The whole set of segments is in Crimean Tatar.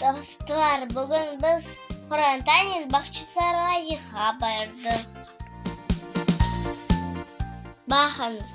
Dostlar, bugün biz Qorantanen Bağçasarayığa bardıq. Baqıñız!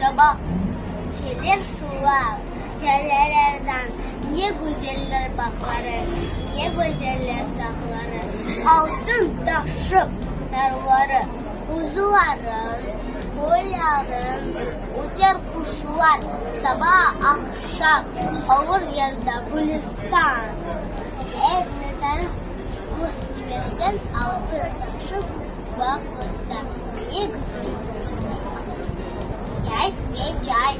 Çabaq kelir sular derelerden, Ne güzeller bağları, ne güzeller dağları, Altın taşıp narları, quzuların, qoyların. Öter quşlar saba, aqşam, Olur yazda Gülüstan. Ev mezarı, Qus kibersen, altın taşıp. Bağ bostan, ne güzel bostanlar. Yay ve cay,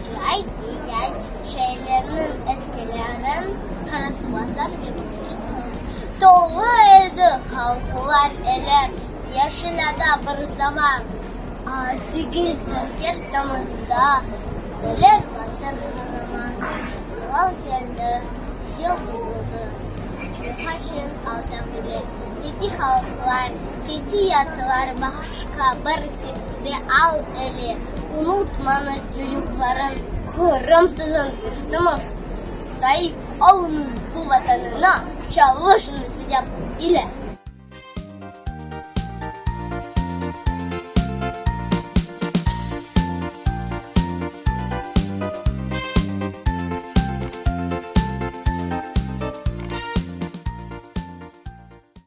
cay ve yay. Şeerlerniñ eskilerin qarasılasam, yürgüce salam. Tolu edi halqlar ele, yaşinada bir zaman. Sigil Tahir damında, öler Vatan Qaraman. Lal keldi, yıl buzuldı, Çayxaşin alda bile. Keti halqlar, keti yatlar başqa bir tipte al ele, unutmañız cürüqların. Qırım sizin yurtuñız, saip oluñız bu vatanına, çalışıñız yap ile.